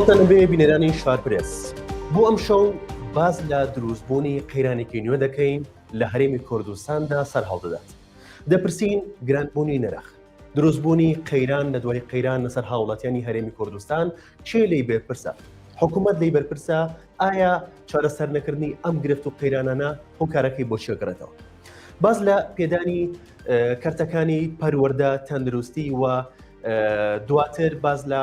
سڵاوتان بێ بینەرانی شار پرێس بۆ ئەم شەو باز لە دروستبوونی قەیرانێکی نوێ دەکەین لە هەرێمی کوردستاندا سەر هەڵدەدات دەپرسین گرانبوونی نرخ دروستبوونی قەیران لە دوای قەیران لەسەر هاوڵاتیانی هەرێمی کوردستان کێ لی بەرپرسە حکوومەت لی بەرپرسە ئایا چارەسەر نەکردنی ئەم گرفت و قەیرانانە هۆکارەکەی بۆ چێگرێتەوە باز لە پێدانی کەرتەکانی پەروەەردە تەندروستی و دواتر باز لە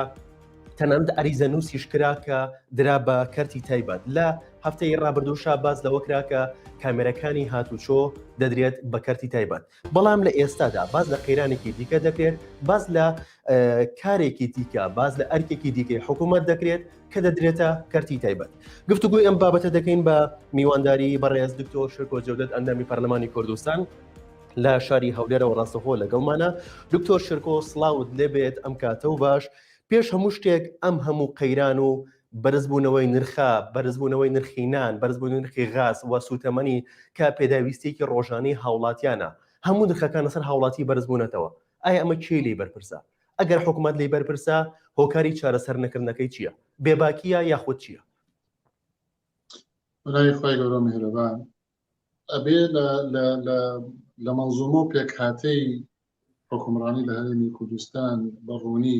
تەنەند ئەریزە نووسیش کرا کە درا بە کەرتی تایبەت لە هەفتەی ڕابردووشا باز لەوە کرا کە کامێرەکانی هاتوچۆ دەدرێت بە کەرتی تایبەت بەڵام لە ئێستادا باس لە قەیرانێکی دیکە دەکرێت باس لە کارێکی دیکە باس لە ئەرکێکی دیکەی حکوومەت دەکرێت کە دەدرێتە کەرتی تایبەت گفتوگوی ئەم بابەتە دەکەین بە میوانداری بەڕێز دکتۆر شکۆ جەودت ئەندامی پەرلەمانی کوردستان لە شاری هەولێرەوە ڕاستەخۆ لەگەڵمانە دکتۆر شرکۆ سلااوت لێبێت ئەم کاتە و باش پێش هەموو شتێک ئەم هەموو قەیران و بەرزبوونەوەی نرخە، بەرزبوونەوەی نرخی نان، بەرزبوونەوەی نرخی غاز و سووتەمەنی کە پێداویستییەکی ڕۆژانەی هاوڵاتیانە، هەموو نرخەکان لەسەر هاوڵاتی بەرزبوونەتەوە، ئایا ئەمە کێی لێی بەرپرسە؟ ئەگەر حکومەت لێی بەرپرسە، هۆکاری چارەسەرنەکردنەکەی چییە؟ بێباکییە یاخود چییە؟ برای خوای گەورە میهرەبان ئەبێ لە مەنزومە و پێکهاتەی حکومڕانی لە هەرێمی کوردستان بە ڕوونی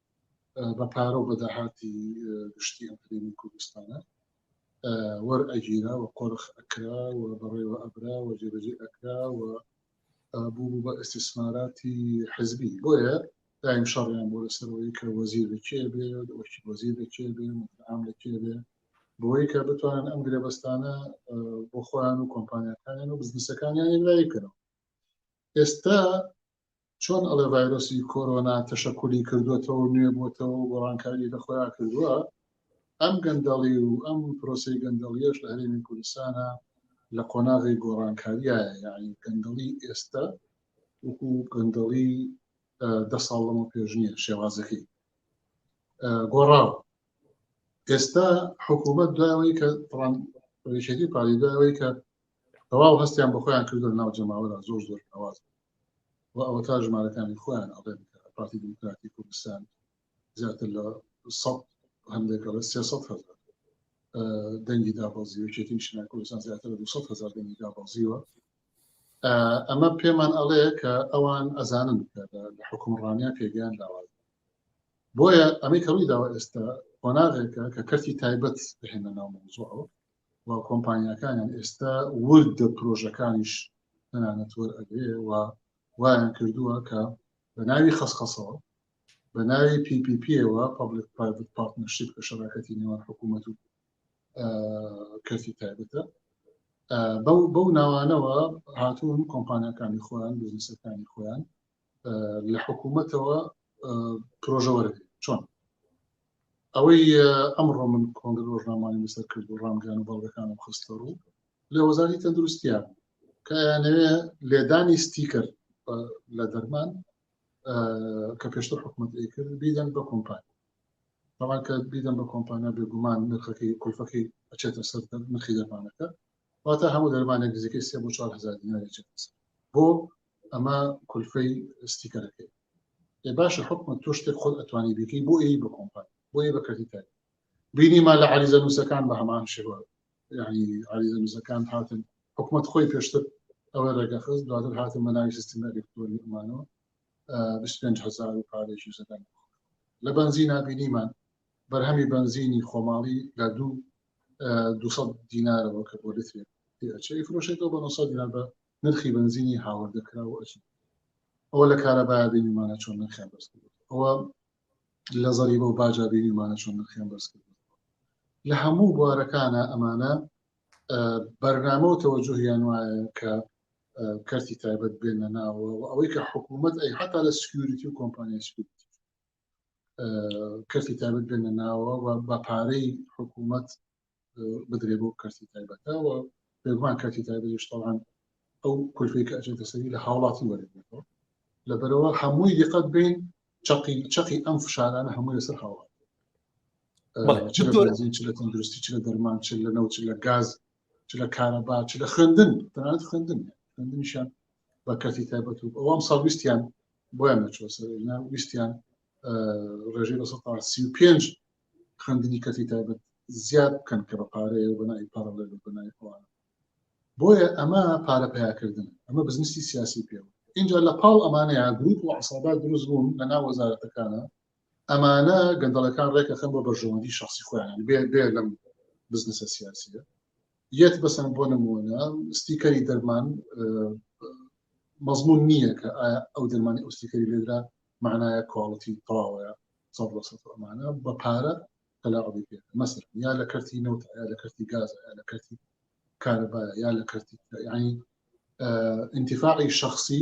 بە پارە و بەداهاتی گشتی ئەم هەرێمی کوردستانە وەر ئەگیرا و قۆرخ ئەکرا و بەڕێوە ئەبرا و جێبەجێ ئەکرا و بوو بە ئەستیسماراتی حزبی بۆیە دایم شەڕیان بۆ لەسەرەوەی کە وەزیر لەکێ بێ وەکی وەزیر لەکێ بێ ئام لەکێ بێ بۆی کە بتوانن ئەم گرێبەستانە بۆ خۆیان و کۆمپانیەکانیان و بزنسەکانیان لایکەنەوە ئێستا چۆن ئەڵێ ڤایرۆسی کۆرۆنا تەشەکولی کردوێتەوە نوێ بۆتەوە گۆڕانکاری لە خۆیان کردووە ئەم گەندەڵی و ئەم پرۆسی گەندەڵیش لە هەرێمی کوردستانە لە قۆناغی گۆڕانکاریایە یعنی گەندەڵی ئێستا وەکو گەندەڵی دە ساڵ لەمە پێش نییە شێوازەکەی گۆڕاو ئێستا حکوومەت داوەی کە ڕێشێتی پاریداوەی کە تەواو هەستیان بە خۆیان کردو لە ناو جەماوەرا زۆر زۆر ناواز و ئەوەتا ژمارەکانی خۆیان ئەڵێن کە پارتی دیموکراتی کوردستان زیاتر لە سەد هەندێک ئەڵێ سێ سەد هەزار دەنگی دابازی و یەکێتی نیشتیمان کوردستان زیاتر لە دو سەد هەزار دەنگی دابازیوە ئەمە پێمان ئەڵێ کە ئەوان ئەزانن کە لە لە حکومڕانیان پێگەیان لاواز بۆیە ئەمەی کە ڕووی داوە ئێستا قۆناغێکە کە کەرتی تایبەت بهێنە ناو مەوزوعەوە و کۆمپانیاکانیان ئێستا وردە پرۆژەکانیش تەنانەت وەرئەگرێ و وایان کردووە کە بە ناوی خەسخەسەوە بە ناوی پیپیپیەوە پبلک پرایڤت پارتنەرشیپ کە شەراکەتی نێوان حکوومەت و کەسی تایبەتە بەو ناوانەوە هاتوون کۆمپانیەکانی خۆیان بزنسەکانی خۆیان لە حکوومەتەوە پرۆژەوەرەێت چۆن ئەوەی ئەمڕۆ من کۆنگ ڕۆژنامانی لەسەر کرد و ڕامگەیان و بەڵگەکانم خستە ڕوو لە وەزاری تەندروستیان کەیانەوێ لێدانی ستیکەر لە دەرمان کە پێشتر حکوومەت ئەیکرد بیدەن بە کۆمپانی بەڵام کە بیدەن بە کۆمپانیا بێگومان نرخەکەی کولفەکەی ئەچێتە سەر نرخی دەرمانەکە واتە هەموو دەرمانێک نزیکەی سێ بۆ چوار هەزار دیناری چێتە سەر بۆ ئەمە کولفەی ستیکەرەکەی ئێ باشە حکومە تۆ شتێک خۆت ئەتوانی بیکەی بۆ ئێی بە کۆمپان بۆ ئێ بە کردی تای بینیمان لە عریزە نووسەکان بە هەمان شێوە یعنی عریزە نووسەکان هاتن حکومت خۆی پێشتر ئەوە ڕێگەخز دواتر هاتن بە ناوی سیستم ئەلکتۆری ئەمانەوە 25 هزار و پارێکی زەدەن لە بەنزینا بینیمان بەرهەمی بەنزینی خۆماڵی لە دوو دوو سەد دینارەوە کە بۆ لترێک پێچەی فرۆشێتەوە بە 900 دینار بە نرخی بەنزینی هاوردەکرا و ئەچی ئەوە لە کارەبایە بینیمانە چۆن نرخیان بەرز کرد ئەوە لە زەریبە و باجا بینیمانە چۆن نرخیان بەرز کرد لە هەموو بوارەکانە ئەمانە بەرنامە و تەوەجهیان وایە کە کەرتی تایبەت بێنە ناوە و ئەوەی کە حکوومەت ئەی حتا لە سکیوریتی و کۆمپانیای سکیوریتی کەسی تایبەت بێنە ناوە و بە پارەی حکوومەت بدرێ بۆ کەسی تایبەتەوە پێگومان کەسی تایبەتشتەوان ئەو کولفی کە ئەچێتە سەری لە هاوڵاتی وەرێتەوە لە بەرەوە هەمووی دیقەت بین چقی چقی ئەم فشارانە هەمووی لەسەر هاوڵات چ لە تەندروستی چ لە دەرمان چ لە نەوت لە گاز چ لە کارەبا چ لە خوێندن تەنانەت خوێندن خوێندنیشان بە کەسی تایبەت و ئەوام ساویستیان بۆیان نەچوە سەرنا ویستیان ڕێژەی بە سی و پێنج خوێندنی کەسی تایبەت زیاد بکەن کە بە پارەیە بەنای پارەڵێ بەنای ئەوان بۆیە ئەمە پارە پیاکردن ئەمە بزنسی سیاسی پێ اینجا لە پاڵ ئەمانەیە گروپ و عسابات دروست بوون لە ناو وەزارەتەکانە ئەمانە گەندەڵەکان ڕێکەخەن بۆ بەرژەوەندی شەخسی خۆیان بێ بێ لەم بزنسە سیاسیە یەت بەسەن بۆ نمونە ستیکەری دەرمان مەزمون نییە کە ئەو دەرمانی ئەوستیکەری لێدرا معناە کواڵەتی تەواوەیە ئەمانە بە پارە تەلاقی پێ مەسر یا لە کەرتی نەوت یا لە کەرتی گاز یا لە کەرتی کارەبا یا لە کەرتی ینی انتفاعی شخصی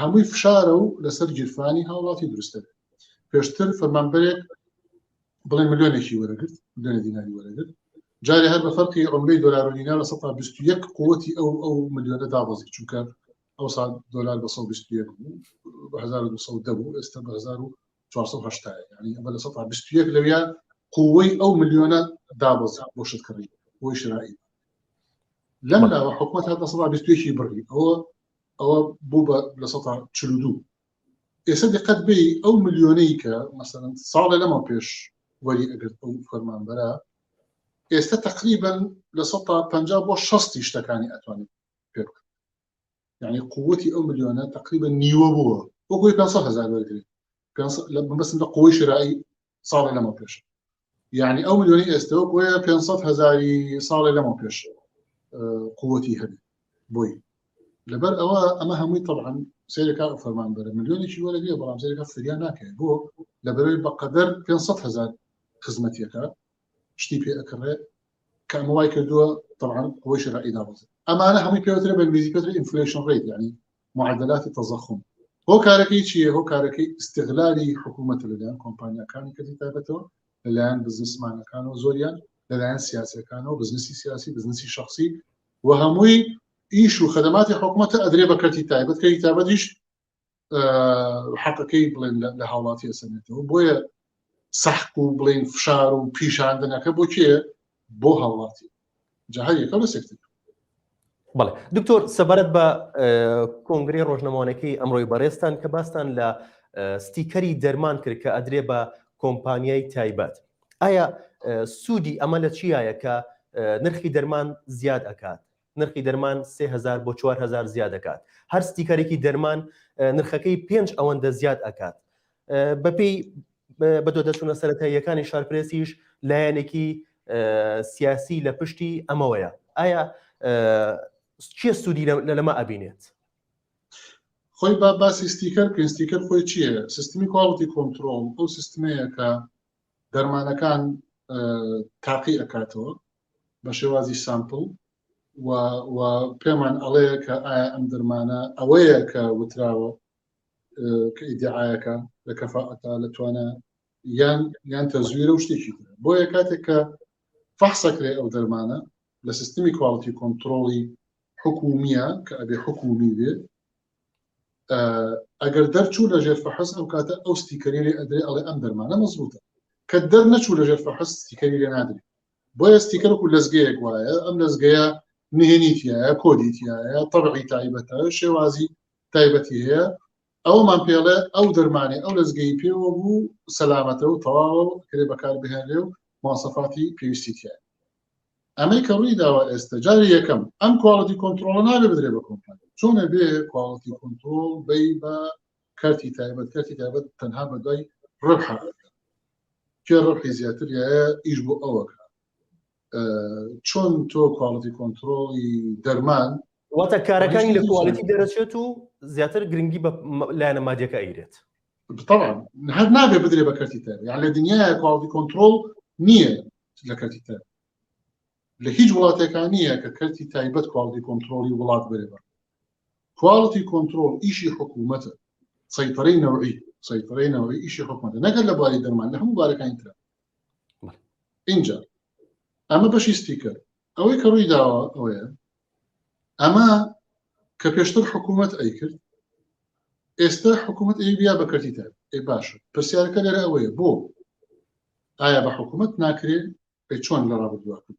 هەمووی فشارە و لەسەر گیرفانی هاوڵاتی دروستە پێشتر فەرمانبەرێک بڵێ ملیۆنێکی وەرەگرت ملیۆنە دیناری وەرەگرت جارێ هەر بە فەرقی عمرەی دلار و دینار لە 121 قوتی ئەو ئەو ملیۆنە دابەزی چونکە ئەو سال دلار بە 121 بوو 1970 بوو ئێستا بە 1970 ینی ئەمە لە 121 لەویا قوەی ئەو ملیۆنە دابەزا بۆ شتکڕی بۆی شرایی لەم لاوە حکومت هەتا 121 بڕی ئەوە ئەوە بوو بە لە سەدا چل و دوو ئێستا دقەت بێ ئەو ملیۆنەی کە مەسەن ساڵێ لەمە پێش وەری ئەگەر ئەو فەرمانبەرە ئێستا تقریبن لە سەدا پ بۆ شەستی شتەکانی ئەتوانێت پێ بکەن یعنی قوتی ئەو ملیۆنە تقریبا نیوە بووە وەکوی 500 هزار وەرگری بەسم لە قوی شرایی ساڵێ لەمە پێش یعنی ئەو ملیۆنی ئێستەوە بۆیە 500 هزاری ساڵێ لەمە پێش قوتی هەبی بۆی لەبەر ئەوە ئەمە هەمووی طبعاان سێرەکە فەرمان بەرە ملیۆنێکی وەرە نیە بەڵام سێرەکە فریا ناکەێت بۆ لە بەرەوەی بەقەدەر 500 هزار خزمەتیەکە شتی پێ ئەکڕێت کەمە وای کردووە طبعاان ئەوەی شرعی دابزن ئەمانە هەمووی پێوترە بە انگلیزی پێتر ئینفلیشن ڕێت ینی معدلات تضخم هۆکارەکەی چیە هۆکارەکەی استغلالی حکوومەت لەلایەن کۆمپانیەکانی کەتی تابەتەوە لەلایەن بزنسمانەکانەوە زۆریان لەلایەن سیاسەکانەوە بزنسی سیاسی بزنسی شخصی و هەمووی ئیش و خدماتی حکوومەتە ئەدرێ بە کەتی تایبەت کەی تابەتیش حەقەکەی بڵێن لە هاوڵاتی ئەسەنێتەوە بۆیە سەحق و بڵێن فشار و پیشاندنەکە بۆ کێ بۆ هاوڵاتی جا هەر یەکە لە سێکتەر بەڵێ دکتۆر سەبارەت بە کۆنگری ڕۆژنەمانەکەی ئەمڕۆی بەڕێستان کە باستان لە ستیکەری دەرمان کرد کە ئەدرێ بە کۆمپانیای تایبەت ئایا سوودی ئەمە لە چیایە کە نرخی دەرمان زیاد ئەکات نرخی دەرمان سێ هەزار بۆ چوار هەزار زیاد ئەکات هەر ستیکەرێکی دەرمان نرخەکەی پێنج ئەوەندە زیاد ئەکات بەپێی بە دۆ دەچوونە سەرەتاییەکانی شارپرسیش لایەنێکی سیاسی لە پشتی ئەمەوەیە ئایا چیە سوودی لە لەمە ئەبینێت خۆی با باسی ستیکەر بکەین ستیکەر خۆی چییە سیستمی کواڵتی کۆنتترۆل ئەو سیستمەیە کە دەرمانەکان تاقی ئەکاتەوە بە شێوازی سامپل و و پێمان ئەڵەیە کە ئایا ئەم درمانە ئەوەیە کە وتراوە کە ئیدعاەکە لە کەفاعتا لە توانە یان یان تەزویرە و شتێکی بۆیە کاتێک کە فەحسەکرێ ئەو دەرمانە لە سیستمی کوالتی کۆنتترۆڵی حکومیە کە ئەبێ حکومی بێ ئەگەر دەرچوو لە ژێر فەحس ئەو کاتە ئەو ستیکەری لێ ئەدرێ ئەڵێ ئەم دەرمانە مەزبوتە کە دەر نەچوو لە ژێر فەحس ستیکەری لێ نادرێت بۆیە ستیکەر وەکو لەزگەیەک وایە ئەم لەزگەیە نهێنی تایە کۆدی تایە تەبعی تایبەتە شێوازی تایبەتی هەیە ئەومان پێڵێ ئەو دەرمانێ ئەو لەزگەی پێوە بوو سەلامەتە و تەواوە و کرێ بەکار بهێنێ و ماسەفاتی پێویستی تایە ئەمەی کە ڕووی داوە ئێستا جاری یەکەم ئەم کوالڵەتی کۆنتترۆڵە نابێ بدرێ بە کۆمپانی چۆنە بێ کوالڵەتی کۆنتترۆل بی بە کارتی تایبەت کارتی تایبەت تەنها بە دوای ڕبح کێ ڕبحی زیاتر یایە ئیش بۆ ئەوەکە چۆن تۆ کواڵەتی کۆنتترۆڵی دەرمان واتە کارەکانی لە کوالیتی دەرەچێت و زیاتر گرنگی بە لایەنە مادیەکە ئەیرێت طبعا هەر نابێ بدرێ بە کەرتی تر یان لە دنیا کواڵتی کۆنتترۆل نییە لە کەرتی تر لە هیچ وڵاتەکان نییە کە کەرتی تایبەت کواڵتی کۆنتترۆلی وڵات بێ بە Quality Control ئیشی حکوومەتە، سەیتەرەی نەوعی سەیتەرەی نەوعی ئیشی حکوومەتە نەگەر لە بواری دەرمان لە هەموو بارەکانی ترە اینجا ئەمە بەشی ستیکەر ئەوەی کە ڕووی داوە ئەوەیە ئەمە کە پێشتر حکوومەت ئەی کرد ئێستا حکوومەت ئەی بیا بەکەتی تر ئەی باشە پرسیارەکە لەرە ئەوەیە بۆ ئایا بە حکوومەت ناکرێت پێ چۆن لە ڕابردووە کرد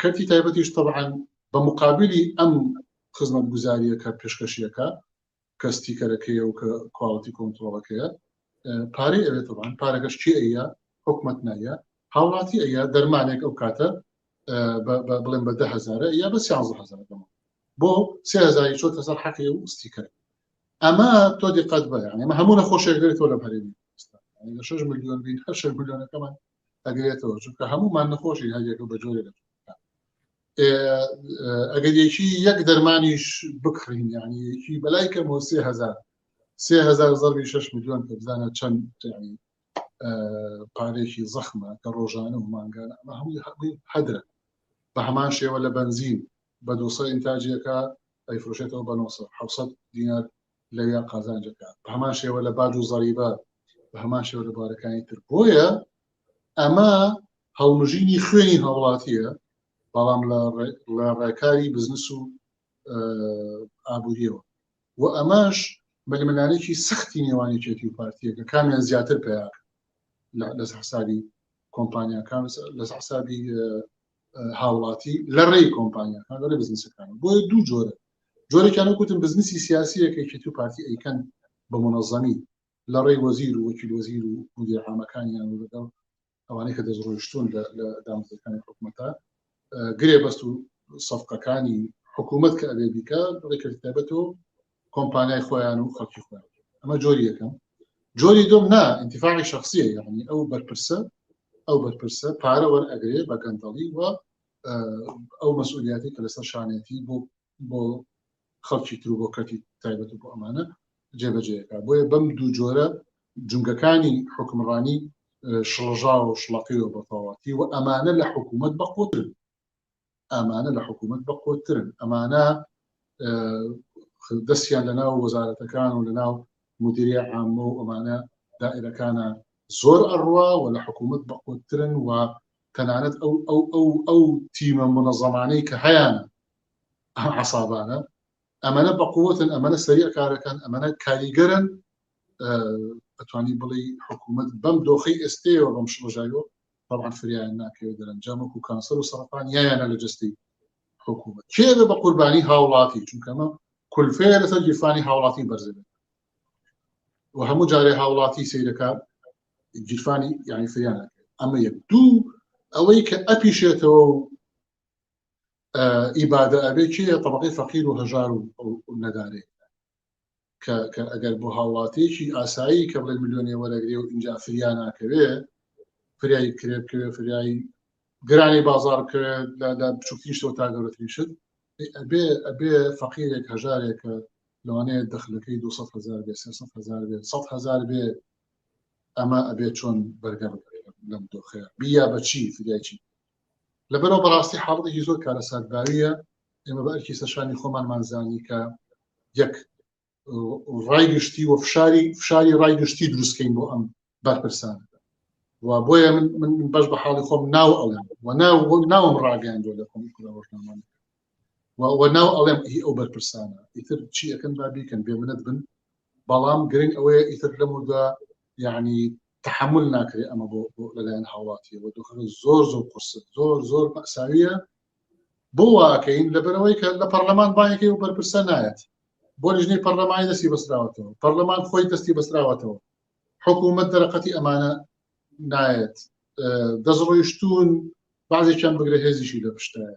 کەرتی تایبەتیش تەبعاً بە مقابلی ئەم خزمەت گوزاریەکە پێشکەشیەکە کە ستیکەرەکەیە و کە کواڵەتی کۆنتترۆڵەکەیە پارەی ئەوێت تەبان پارەکەش چی ئەیە حکومت نایە هاوڵاتی ئەیە دەرمانێک ئەو کاتە بڵێن بە دههزارە یا بە سیهزار بۆ سهزاری چۆتە سەر حەقی و ستیکەر ئەمە تۆ دیقەت بە ئەمە هەموو نەخۆشێک دەێت تۆ لە هەرێمی شش میلیۆن بین هەر شش میلیۆنەکەمان ئەگرێتەوە چونکە هەمومان نەخۆشی هەریەکە بە جۆرە لە ئەگەر یەکی یەک دەرمانیش بکڕین یعنی یەکی بەلای کەم و سێ هزار سێ هزار زەربی شش میلیۆن کە بزانە چەند یعنی پارێکی زەخمە کە ڕۆژانە و مانگانە ئەمە هەمووی هەمووی هەدرە بە هەمان شێوە لە بنزین بە دوسە ئینتاجیەکە ئەیفرۆشێتەوە بە 900 دینار لەویان قازانجەکە بە هەمان شێوە لە باج و زەریبە بە هەمان شێوە لە بارەکانی تر بۆیە ئەمە هەڵمژینی خوێنی هاوڵاتیە بەڵام لە ڕێکاری بزنس و ئابووریەوە و ئەمەش ململانێکی سەختی نێوانی چێتی و پارتیەکە کامیان زیاتر پیاکە لەس حسابی کۆمپانیاکان لەس حسابی هاوڵاتی لە ڕێی کۆمپانیاکان لە ڕێ بزنسەکان بۆیە دوو جۆرە جۆرەکان وکوتم بزنسی سیاسیەکەیکی تو پارتی ئەیکەن بە منەظەمی لە ڕێی وەزیر و وەکیل وەزیر و مدیر عامەکانیان و لەگەڵ ئەوانەی کە دەستڕۆیشتون لە دامزەکانی حکوومەتە گرێ بەست و سەفقەکانی حکوومەت کە ئەبێ بیکە ڕێکردتابەتەوە کۆمپانیای خۆیان و خەڵکی خۆیان ئەمە جۆری یەکەم جۆری دوم نا انتفاعی شخصیە یعنی ئەو بەرپرسە ئەو بەرپرسە پارە وەرئەگرێ بە گەندەڵی و ئەو مەسئولیاتی کە لەسەر شانێتی بۆ بۆ خەڵکی تر بۆ کەتی تایبەت بۆ ئەمانە جێبەجێەکە بۆیە بەم دوو جۆرە جنگەکانی حکمڕانی شڵژاوە و شڵەقی و بەتەواتی و ئەمانە لە حکوومەت بەقوترن ئامانە لە حکوومەت بە قۆترن ئەمانە دەستیان لە ناو وەزارەتەکان و لە ناو مدیری عامە و ئەمانە دائرەکانە زۆر ئەڕوا و لە حکوومەت بە قۆترن و تەنانەت ئەو ئەو ئەو ئەو تیمە منەزەمانەی کە هەیان عسابانە ئەمەە بە قوتن ئەمەە سەریع کارەکەن ئەمەە کاریگەرن ئەتوانی بڵی حکوومەت بەم دۆخی ئێستەوە بەم شڵژایەوە بەڵام فریایان ناکەوێت دەرەنجام وەکو کانسەر و سەرەتان یایانە لە جستی حکوومەت کێ بە بە قوربانی هاوڵاتی چونکەمە کولفەیە لەسەر گیرفانی هاوڵاتی بەرزێنێت و هەموو جارێ هاوڵاتی سیرەکان گیرفانی یعنی فریان ئەمە یەک دوو ئەوەی کە ئەپیشێتەوە و ئیبادە ئەبێ کێ طبقی فەقیر و هەژار و نەدارێ کە کە ئەگەر بۆ هاوڵاتیەکی ئاسایی کە بڵێ ملیۆنێ وەرەگرێ و ئینجا فریا ناکەوێ فریایی کرێ بکەوێ فریایی گرانی بازار بکەوێت لە بچووکی شتەوە تا گەورەترین شت ئەبێ ئەبێ فەقیرێک هەژارێکە لەوانەیە دەخلەکەی 200 هزار بێ 300 هزار بێ 100 هزار بێ ئەمە ئەبێ چۆن بەرگەڕ لەم دۆخەیە بیا بەچی فریایچی لەبەرەوە بەڕاستی حاڵەتێکی زۆر کارەساتباویە ئێمە بە ئەرکی سەرشانی خۆمانمان زانی کە یەک ڕای گشتی و فشاری فشاری ڕای گشتی دروستکەین بۆ ئەم بەرپرسان و بۆیە من بەش بە حاڵی خۆم ناو ئەڵێم و ناو ناوم ڕاگەیان دۆ لە خۆم ڕۆژنامان و ناو ئەڵێم هی ئەو بەرپرسانە ئیتر چی ئەەکەن با بیکەن بێ منەت بن بەڵام گرنگ ئەوەیە ئیتر لەمدا یعنی تەحەمول ناکرێ ئەمە بۆ لەلایەن هاوڵاتیەوە دۆخەکە زۆر زۆر قورس زۆر زۆر مەساویە بۆ واکەین لەبەرەوەی کە لە پەرلەمان باەکەی و بەرپرسە نایەت بۆ لژنەی پەرلەمانی دەستی بەسراوەتەوە پەرلەمان خۆی دەستی بەسراوەتەوە حکوومەت دەرەقەتی ئەمانە نایەت دەستڕۆیشتون بازێکیان بگرە هێزیشی لە پشتایە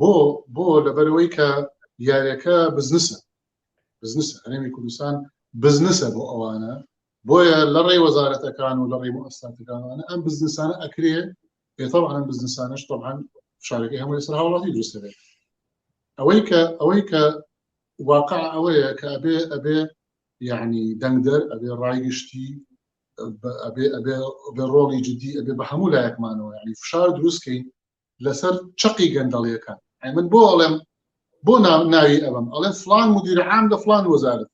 بۆ بۆ لەبەرەوەی کە یاریەکە بزنسە بزنس هەرێمی کوردستان بزنسە بۆ ئەوانە بۆیە لە ڕێی وەزارەتەکان و لە ڕێی ئەستاتەکانوانە ئەم بزنسانە ئەکرێ پێتەوان بزنسانش طبعاان فشارەکەی هەموو لەسەر هاوڵاتی دروستەبێت ئەوەی کە ئەوەی کە واقع ئەوەیە کە ئەبێ ئەبێ یعنی دەنگدەر ئەبێ ڕایگشتی ئەبێ ئەبێ ڕۆڵی جددی ئەبێ بە هەموو لایەکمانەوە ینی فشار دروستکەین لەسەر چقی گەندەڵیەکان من بۆ ئەڵێم بۆ ناوی ئەبم ئەڵێن فلان مدیرعام لە فلان وەزارت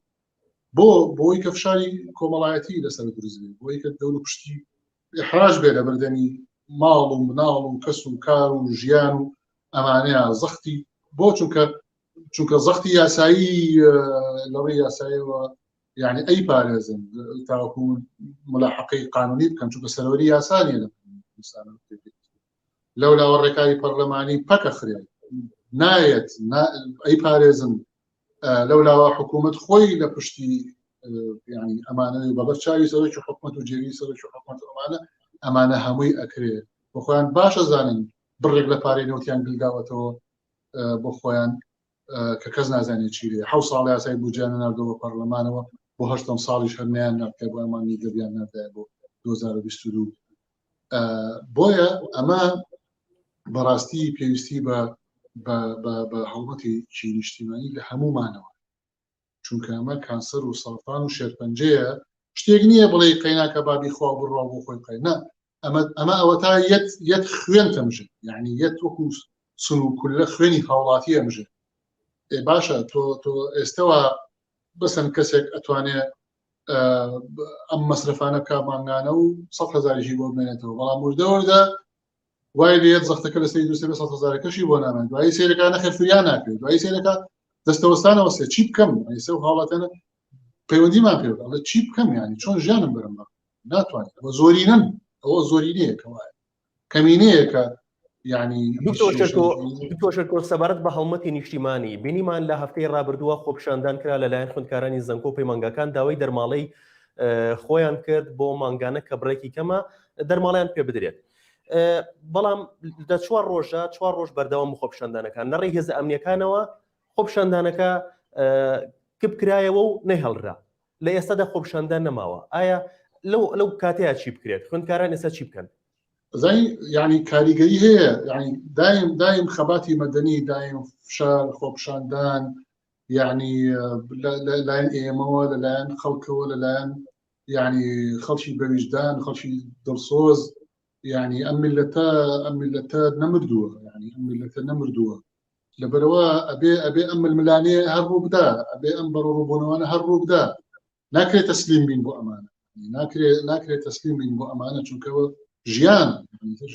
بۆ بۆی کە فشاری کۆمەڵایەتی لەسەر دروزبێ بۆی کە دەور پشتی احراج بێ لە بردەنی ماڵ و مناڵ و کەس و کار و ژیان و ئەمانەیە زەختی بۆ چونکە چونکە زەختی یاسایی لەڕی یاسایەوە یعنی ئەی پارێزن تاوەکو ملاحقی قانونی بکەن چونکە سەرەوەری یاسانیە لە لەولاوە ڕێکاری پەرلەمانی پەکەخرێت نایەت ئەی پارێزن لەولاوە حکوومەت خۆی لە پشتی ینی ئەمانە بەبەر چاوی سەرۆکی حکومت و جێوی سەرۆکی حکومت ئەمانە ئەمانە هەمووی ئەکرێت بۆ خۆیان باشە زانن بڕێک لە پارەی نەوتیان گلداوەتەوە بۆ خۆیان کە کەس نازانێت چی لێ حو ساڵ یاسای بجان نردەوە پەرلەمانەوە بۆ هەشتم ساڵیش هەرنیان نرکە بۆ ئەمانی دەبیان نردای بۆ 2022 بۆیە ئەمە بەڕاستی پێویستی بە بە هەڵمەتی چی نیشتیمانی لە هەمومانەوە چونکە ئەمە کانسەر و سەڵفان و شێرپەنجەیە شتێک نییە بڵێ قەیناکە بابی خوا بڕوا بۆ خۆی قەینا ئەمە ئەمە ئەوە تا یەت یەت خوێن تەمژن یعنی یەت وەکو سن و کولە خوێنی هاوڵاتی ئەمژن باشە تۆ تۆ ئێستەوە بەسەن کەسێک ئەتوانێ ئەم مەسرفانە بکە مانگانە و سە هزاریشی بۆ بمێنێتەوە بەڵام وردە وردە وای لێت زەختەکە لە سری دوسێ سە هزارەکەشی بۆ نامێن دوایی سیرەکانە خەرفریان ناکرێت دوایی سیرەکە دەستەوەستانەوە سێ چی بکەم ئەیسە و حاڵەتەنە پەیوەندیمان پێ چی بکەم ینی چۆن ژیانم برم ناتوانێت زۆرینەن ئەوە زۆرینەیەکەوە کەمینەیەکە یعنیتۆشەکۆ سەبارەت بە هەڵمەتی نیشتیمانی بینیمان لە هەفتەی ڕابردووە خۆپشاندان کرا لەلایەن خوندکارانی زەنکۆ پەی مانگاکان داوای دەرماڵەی خۆیان کرد بۆ مانگانە کە بڕێکی کەمە دەرماڵیان پێ بدرێت. بەڵام دە چوار ڕۆژە چوار ڕۆژ بەردەوام خۆپشاندانەکان لە ڕێ هێز ئەمنیەکانەوە خۆپشاندانەکە کپ کرایەوە و نەهێڵرا لە ئێستادا خۆپیشاندان نەماوە ئایا لەو لەو کاتەیە چی بکرێت خوێندکاران ئێستا چی بکەن زانی یعنی کاریگەری هەیە یعنی دایم دایم خەباتی مەدەنی دایم فشار خۆپشاندان یعنی لەلایەن ئێمەوە لەلایەن خەڵکەوە لەلایەن یعنی خەڵکی بەویژدان خەڵکی دڵسۆز یعنی ئەم ملەتە ئەم ملەتە نەمردووە یعنی ئەم ملەتە نەمردووە لەبەرەوە ئەبێ ئەبێ ئەم ململانێ هەر ڕووبدا ئەبێ ئەم بەڕۆ ڕووبوونەوەە هەر ڕووبدا ناکرێت تەسلیم بین بۆ ئەمانە ناکرێت ناکرێت تەسلیم بین بۆ ئەمانە چونکەوە ژیان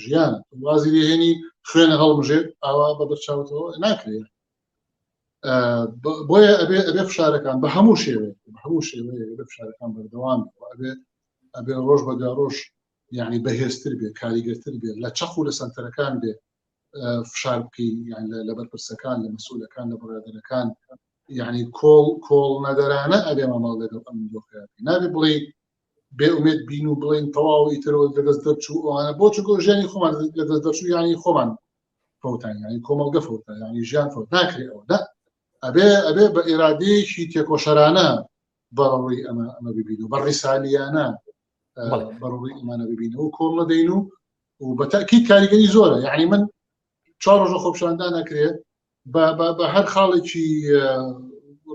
ژیان وازی لێهێنی خوێنە هەڵمژێت ئاوا بە بەرچاوتەوە ناکرێت بۆیە ئەبێ ئەبێ فشارەکان بە هەموو شێوێ هەموو شێوێ بە فشارەکان بەردەوام ئەبێ ئەبێ ڕۆژ بەدا ڕۆژ یعنی بەهێزتر بێ کاریگەرتر بێت لە چەق و لە سەنتەرەکان بێت فشار بکەین یان لە بەرپرسەکان لە مەسولەکان لە بڕادەرەکان یعنی کۆڵ کۆڵ نەدەرانە ئەبێ مامەڵ لەگەڵ ئەم دۆخیان نابێ بڵێ بێ ئومێت بین و بڵین تەواو ئیترەوە لە دەست دەرچوو ئەوانە بۆ چگۆ ژیانی خۆمان لە دەست دەرچوو یانی خۆمان فوتان ینی کۆمەڵگە فوتان ینی ژیان فوت ناکرێت ئەوە دا ئەبێ ئەبێ بە ئێرادەیەکی تێکۆشەرانە بەڕووی ئەمە ئەمە ببین و بە ڕیسالیانە بەڕووی ئەمانە ببینەوە کۆڵ نەدەین و و بە تاکیید کاریگەری زۆرە یعنی من چوار ڕۆژە خۆپشاندا نەکرێت بە هەر خاڵێکی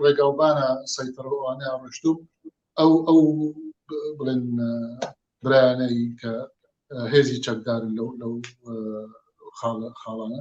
ڕێگاوبانە سەیتەڕوانە ڕشتو ئەو ئەو بڵێن برایانەی کە هێزی چەکدارن لەو لەو خاڵە خاڵانە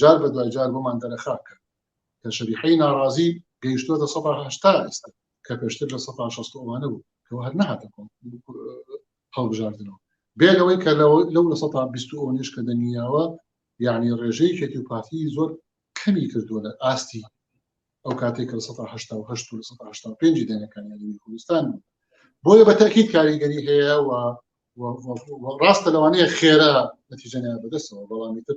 جار بە دوای جار بۆمان دەرەخا کە کە شەریحەی ناڕازی گەیشتووەتە سە هشتا ئێستا کە پێشتر لە سە شست ئەوانە بوو کەەوە هەر نەهاتە هەڵبژاردنەوە بێ لەوەی کە لەو لە سە بیست ئەو نش کە دەنیاوە یعنی ڕێژەی کێتی و پارتی زۆر کەمی کردووە لە ئاستی ئەو کاتێک کە سە پێنج دێنەکانی کوردستان بۆیە بە تاکیت کاریگەری هەیە و ڕاستە لەوانەیە خێرا نەتیجەنیان بەدەستەوە بەڵامی تر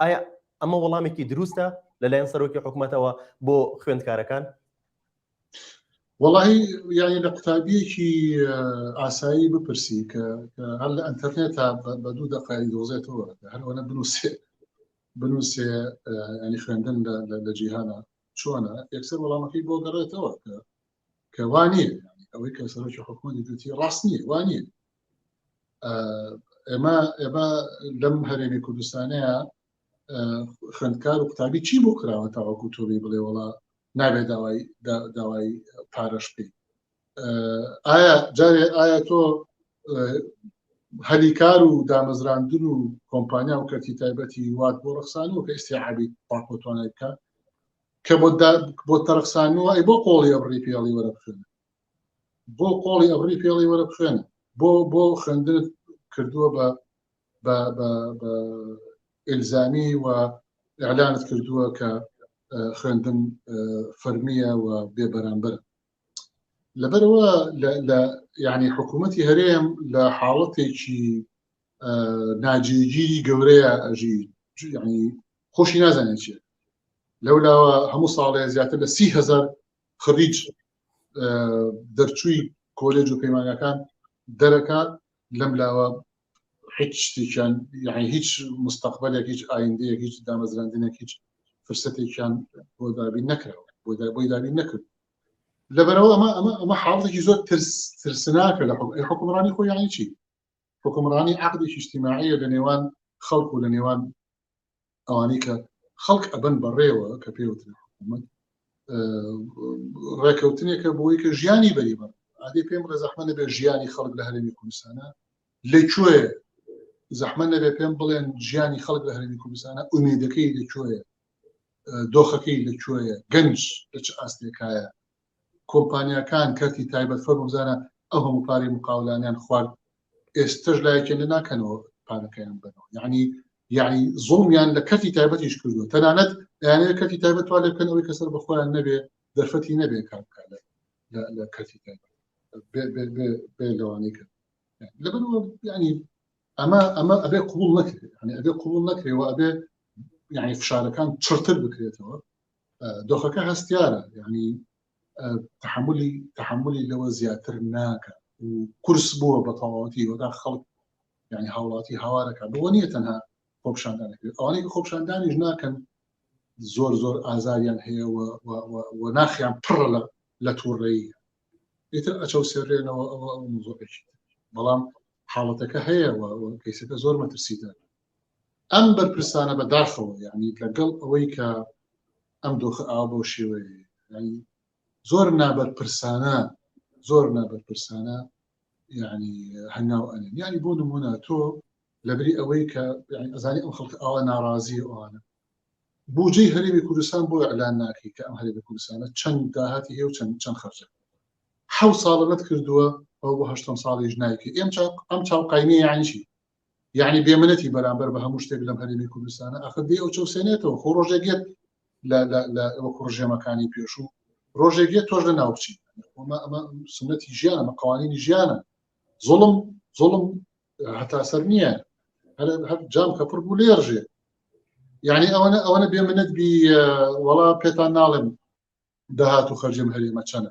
ئایا ئەمە وەڵامێکی دروستە لەلایەن سەرۆکی حکوومەتەوە بۆ خوێندکارەکان؟ وەڵی یانی لە قوتابیەکی ئاسایی بپرسی کە هەر لە ئەتەرنێت تا بە دوو دەقای دۆزێتەوە هەرەوەە بنووسێ بنووسێ ینی خوێندن لە جیهانە چۆنە یەکسەر وەڵامەکەی بۆ گەڕێتەوە کە کە وا نییە ئەوەی کە سەرۆکی حکومەتی دوتی ڕاست نییە وا نییە ئێمە ئێمە لەم هەرێمی کوردستانەیە خوێندکار و قوتابی چی بۆ کراوە تاوەکو تۆبی بڵێ وڵا نابێت داوای داوای پارەش بکەیت ئایا جارێ ئایا تۆ هەلی کار و دامەزراندن و کۆمپانیا و کەرتی تایبەتی وات بۆ ڕخسانەوە کە ئستیعابی پاپۆتوانای بکە کە بۆت دا بۆت تەرخسانووە ئەی بۆ قۆڵی ئەبڕی پێڵی وەرە بخوێنە بۆ قۆڵی ئەبڕی پێڵی وەرە بخوێنە بۆ بۆ خوێندنت کردووە بە بە بە بە ئلزامی و ئەلانت کردووە کە خوێندن فەرمیە و بێ بەرامبەر لەبەرەوە لە یعنی حکوومەتی هەرێم لە حاڵەتێکی ناجیگیری گەورەیە ئەژی ینی خۆشی نازانێت چێت لەولاوە هەموو ساڵێ زیاتر لە سی هزار خڕیج دەرچووی کۆلێج و پەیمانەکان دەرەکات لەم لاوە هیچ شتێکیان یعنی هیچ مستەقبلێک هیچ ئایندەیەک هیچ دامەزراندنێک هیچ فرسەتێکیان بۆ دابین نەکراوە بۆ بۆی دابین نەکرد لەبەرەوە ئەمە ئەمە ئەمە حاڵێکی زۆر ترس ترسناکە لە حکومڕانی خۆیانی چی حوکمڕانی عەقدێکی ئیجتیماعیە لە نێوان خەڵک و لە نێوان ئەوانەی کە خەڵک ئەبن بەڕێوە کە پێوترێ حکوومەت ڕێکەوتنێکە بۆی کە ژیانی بەری بە عادی پێم ڕێ زەحمە نەبێ ژیانی خەڵک لە هەرێمی کوردستانە لە کوێ زەحمە نەبێ پێم بڵێن ژیانی خەڵک لە هەرێمی کوردستانە ئومێدەکەی لە کوێ دۆخەکەی لە کوێ گەنج لە چ ئاستێکایە کۆمپانیاکان کەرتی تایبەت فەرموو بزانە ئەو هەموو پارەی مقاولانیان خوارد ئێستەش لایەکیان لێ ناکەنەوە پارەکەیان ببەنەوە یعنی یعنی زوڵمیان لە کەرتی تایبەتیش کردووە تەنانەت دەیانەوێت کەرتی تایبەت توا لێ بکەن ئەوەی کە سەر بە خۆیان نەبێ دەرفەتی نەبێ کار بکات لە- لە- لە کەرتی تایبەت بێ- بێ- بێ- بێ لەوانەی کرد لەبەر ینی ئەمە ئەمە ئەبێ قوبول نەکرێت یعنی ئەبێ قوبول نەکرێەوە ئەبێ یعنی فشارەکان چڕتر بکرێتەوە دۆخەکە هەستیارە یعنی تحملی تحملی لەوە زیاتر ناکە و کورس بووە بە تەواوەتی وەدا خەڵک یعنی هاوڵاتی هاوارەکە بۆ نییە تەنها خۆپشاندانەکرێت ئەوانەی خۆپشاندانیش ناکەن زۆر زۆر ئازاریان هەیە و ناخیان پڕە لە لە تووڕەیە ئیتر ئەچەو سێرێنەوە ئەوە ئەو زۆرێکی بەڵام حاڵەتەکە هەیە کەیسەکە زۆر مەترسیدار ئەم بەرپرسانە بە داخەوە یعنی لەگەڵ ئەوەی کە ئەم دۆخە ئاوا بۆ شێوەیە زۆر نابەرپرسانە زۆر نابەرپرسانە ینی هەنگاو ئەن ینی بۆ نمونە تۆ لەبری ئەوەی کە ئەزانی ئەم خەڵک ئاوا ناڕازی ئەوانە بودجەی هەرێمی کوردستان بۆ ئەلان ناکەی کە ئەم هەرێمی کوردستانە چەند داهاتی هێ و چەند چەند خەرجە حە ساڵەت کردووە ئەو بۆ هەشتم ساڵیش نایکە ئێم ئەم چاوقاینی یانیشی یەعنی بێ منەتی بەرامبەر بە هەموو شتێک لەم هەرێمی کوردستانە ئەخر دێ ئەو چەوسێنێتەوە خۆ ڕۆژێک یەت لە وەکو ڕژێمەکانی پێشوو ڕۆژێک یە تۆش لە ناوچی ئەمە سنەتی ژیان ئەمە قوانینی ژیانە زڵم زڵم هەتا سەر نییە هەر جام کەپڕ بوو لێرژێ یعنی ئەوەنە ئەوەنە بێ منەت بی وەڵا پێتان ناڵێم داهات و خەرجم هەرێمە چەنە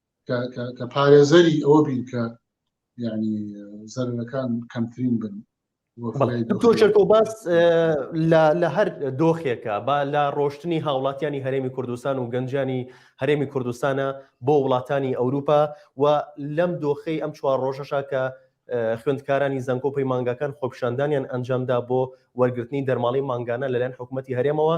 کە پارێزەری ئەوە بین کە ینی زەرەکان کەمترین بن تۆچەکۆ باس لە هەر دۆخێکە با لە ڕۆشتنی هاوڵاتیانی هەرێمی کوردستان و گەنجانی هەرێمی کوردستانە بۆ وڵاتانی ئەوروپا و لەم دۆخەی ئەم چوار ڕۆژەشا کە خوێندکارانی زەنکۆ پەیمانگاکان خۆپشاندانیان ئەنجامدا بۆ وەرگرتنی دەرماڵی مانگانە لەلایەن حکوومەتتی هەرێمەوە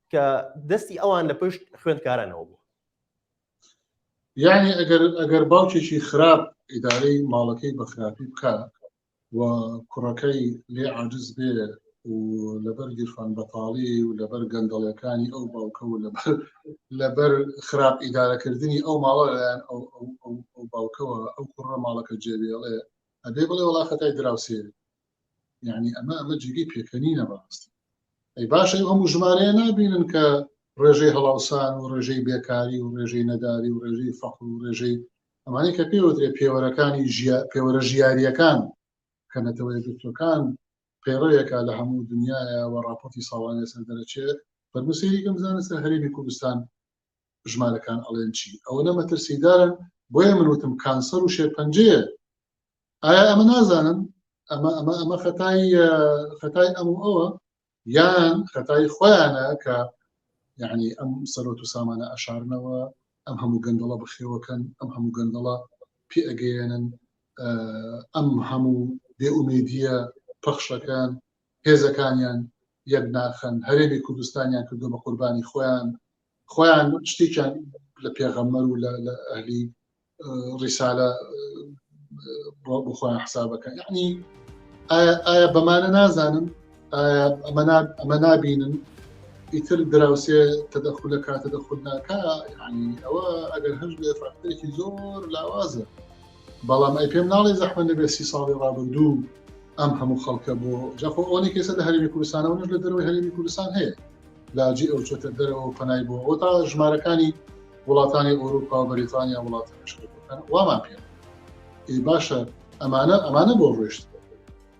کە دەستی ئەوان لە پشت خوێندکارانەوە بوو یعنی ئەگەر ئەگەر باوکێکی خراپ ئیدارەی ماڵەکەی بە خراپی بکە و کوڕەکەی لێ عجز بێ و لەبەر گیرفان بەتاڵی و لەبەر گەندەڵەکانی ئەو باوکە و لەبەر لەبەر خراپ ئیدارەکردنی ئەو ماڵە لەلایەن ئەو باوکەوە ئەو کوڕە ماڵەکە جێوێڵێ ئەبێ بڵێ وڵا خەتای دراوسێ یعنی ئەمە ئەمە جێگەی پێکەنینە بەڕاستی ئەی باشە ئەم ژمارەیە نبینن کە ڕێژەی هەڵاوسان و ڕێژەی بێکاری و ڕێژەی نەداری و ڕێژەی فەقل و ڕێژەی ئەمانی کە پێوەێ پێوەرەکانی پێوەرە ژیاریەکان کە نەتەوە یەکگرتوەکان پەیڕەوێکە لە هەموو دنیاە و راپۆتی ساڵانێ سەر دەرەچێت فەرموسیریکەم بزانە سەر هەرێمی کوردستان ژمارەکان ئەڵێن چی ئەوەنە مەترسیدارن بۆیە من وتم کانسەر و شێرپەنجەیە ئایا ئەمە نازانن ئەمە ئەمە ئەمە خەتای خەتای ئەم و ئەوە یان خەتای خۆیانە کە یعنی ئەم سەرۆت و سامانە ئەشارنەوە ئەم هەموو گەندەڵە بەخێوەکەن ئەم هەموو گەندەڵە پێ ئەگەیەنن ئەم هەموو بێئومێدیە پەخشەکان هێزەکانیان یەک ناخەن هەرێمی کوردستانیان کردو بە قوربانی خۆیان خۆیان شتێکیان لە پێغەممەر و لە ئەهلی ڕیسالە بخۆیان حسابەکەن یعنی ئایا بەمانە نازانم ئەمە نابینن ئیتر دراوسێ تەدەخل لە کاتە دەخود ناکە ینی ئەوە ئەگەر هەش بێ فاکتەرێکی زۆر لاوازە بەڵام ئەی پێم ناڵێ زەحمە نەبێت سی ساڵی ڕابردوو ئەم هەموو خەڵکە بۆ جاخۆ ئەوەی کەسە لە هەرمی کوردستانەوە نش لە دەرەوەی هەرمی کوردستان هەیە لاجی ئەو چۆتە دەرەوە پەنای بۆ ئەو تا ژمارەکانی وڵاتانی ئەوروپا و بەریتانیا وڵاتە وامان پێ باشە ئەمانە ئەمانە بۆ ڕۆشت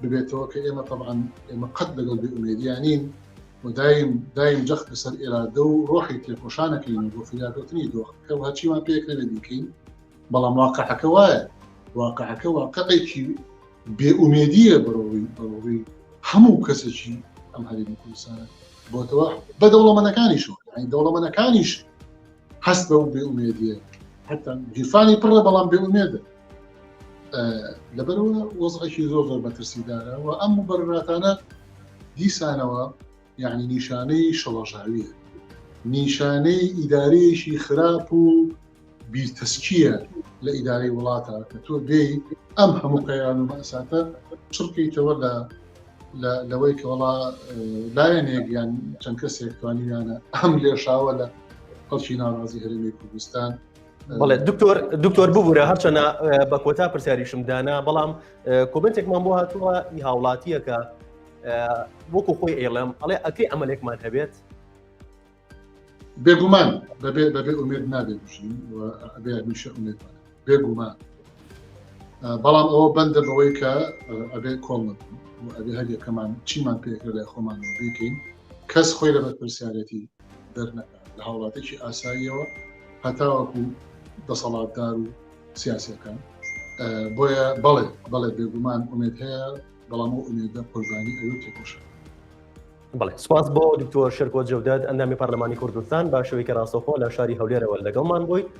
ببێتەوە کە ئێمە تەبان ئێمە قەت لەگەڵ بێ ئومێدیانین و دایم دایم جەخت لەسەر ئێرادە و ڕۆحی تێکۆشانەکەین بۆ فریاگوتنی دۆخ کە هەچیمان پێک نەبێ بیکەین بەڵام واقعەکە وایە واقعەکە واقعێکی بێ ئومێدیە بەڕۆی بەڕۆی هەموو کەسێکی ئەم هەرێمی کوردستانە بۆتەوە بە دەوڵەمەنەکانیش دەوڵەمەنەکانیش هەست بە بێ ئومێدیە حتا گیرفانی پڕە بەڵام بێ ئومێدە لەبەرەوە وەزعێکی زۆر زۆر مەترسیدارە و ئەم مبەرراتانە دیسانەوە یعنی نیشانەی شڵەژاویە نیشانەی ئیدارەیەکی خراپ و بیرتەسکیە لە ئیدارەی وڵاتە کە تۆ دێی ئەم هەموو قەیران و مەساتە چڕکەیتەوە لە لەوەی کە وڵا لایەنێک یان چەند کەسێک توانیانە ئەم لێشاوە لە خەڵکی ناڕازی هەرێمی کوردستان بڵێ دکتۆر دکتۆر ببوورە هەرچەنە بە کۆتا پرسیاریشم دانا بەڵام کۆمنتێکمان بۆ هاتووە ئی هاوڵاتیەکە وەکو خۆی ئێڵم ئەڵێ ئەکەی ئەمەلێکمان هەبێت بێگومان بەبێ بەبێ ئومێت نابێت بژین ئەبێ میشە ئومێت بێگومان بەڵام ئەوە بەندە بەوەی کە ئەبێ کۆڵ ئەبێ هەر یەکەمان چیمان پێکرە لای خۆمان بیکەین کەس خۆی لە بەرپرسیارەتی دەرنەکە لە هاوڵاتێکی ئاساییەوە هەتاوەکو دەسەڵاتدار و سیاسەکان بۆیە بەڵێ بەڵێ بێگومان ئومێت هەیە بەڵام و ئومێدە قوربانی ئەوێ تێکۆشە بڵێ سپاس بۆ دکتۆر شرکۆ جودد ئەندامی پەرلەمانی کوردستان باشەوەی کە ڕاستەخۆ لە شاری هەولێرەوە لەگەڵمان بووی